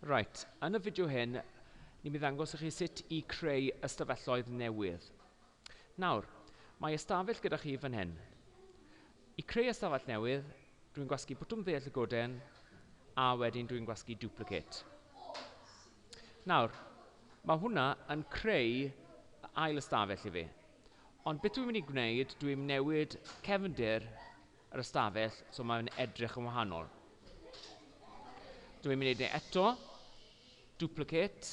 Reit, yn y fideo hyn, ni'n mynd i ddangos i chi sut i creu ystafelloedd newydd. Nawr, mae ystafell gyda chi fan hyn. I creu ystafell newydd, dwi'n gwasgu bwtwm dde llygoden, a wedyn dwi'n gwasgu duplicate. Nawr, mae hwnna yn creu ail ystafell i fi. Ond beth dwi'n mynd i gwneud, dwi'n newid cefndir yr ystafell, so mae fe'n edrych yn wahanol. Dwi'n mynd i wneud e eto, duplicate,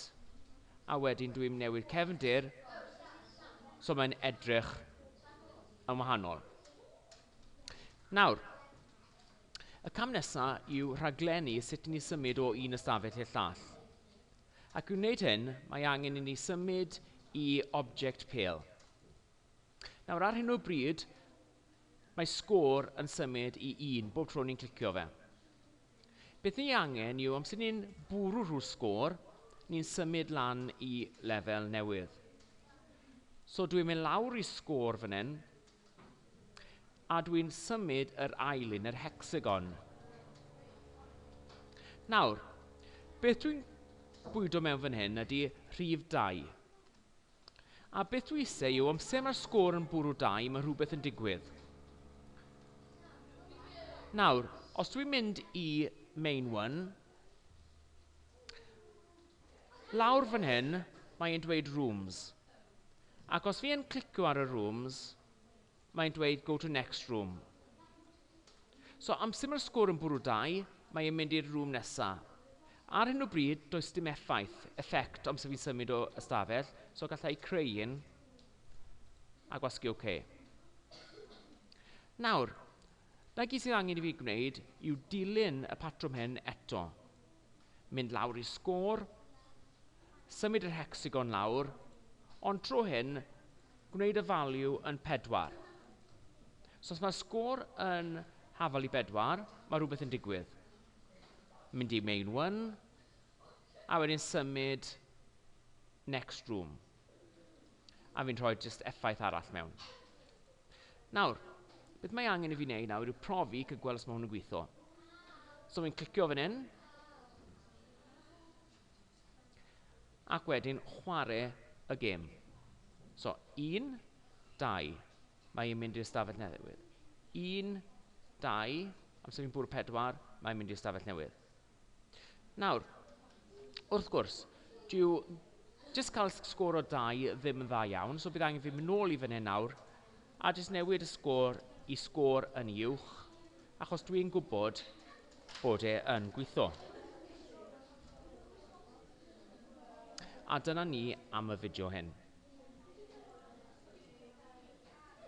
a wedyn dwi'n mynd newid cefndir, so mae'n edrych yn wahanol. Nawr, y cam nesaf yw rhaglennu sut ni symud o un ystafell i'r llall. Ac i wneud hyn, mae angen i ni symud i object pale. Nawr, ar hyn o bryd, Mae sgôr yn symud i un bob tro ni'n clicio fe. Beth ni angen yw amser ni'n bwrw rhw'r sgôr, ni'n symud lan i lefel newydd. So dwi'n mynd lawr i sgôr fan hyn, a dwi'n symud yr ail un, yr hecsagon. Nawr, beth dwi'n bwydo mewn fan hyn ydy rhif 2. A beth dwi ise yw amser mae'r sgôr yn bwrw dau mae rhywbeth yn digwydd. Nawr, os dwi'n mynd i main one, lawr fan hyn mae'n dweud rooms. Ac os fi yn clicio ar y rooms, mae'n dweud go to next room. So amser mae'r sgôr yn bwrw dau, mae e'n mynd i'r rŵm nesa. Ar hyn o bryd, does dim effaith, effect, amser fi'n symud o ystafell, so galla i creu un a gwasgu OK. Nawr, 'na gyd sydd angen i fi gwneud yw dilyn y patrwm hyn eto. mynd lawr i sgôr, symud yr hecsagon lawr, ond tro hyn, gwneud y value yn pedwar. So os mae sgôr yn hafal i bedwar, mae rhywbeth yn digwydd. Mynd i main one, a wedyn symud next room. A fi'n rhoi jyst effaith arall mewn. Nawr, beth mae angen i fi wneud nawr yw profi cael gweld os mae hwn yn gweithio. So fi'n clicio fan hyn. Ac wedyn chwarae y gêm. So, un, dau. Mae e'n mynd i'r stafell newydd. Un, dau. Amser fi'n bwrw pedwar, mae'n mynd i'r stafell newydd. Nawr, wrth gwrs, dyw jyst cael sgôr o dau ddim yn dda iawn, so bydd angen fi mynd nôl i fan hyn nawr a jyst newid y sgôr i sgôr yn ei uwch, achos dwi'n gwybod bod e yn gweithio. A dyna ni am y fideo hyn.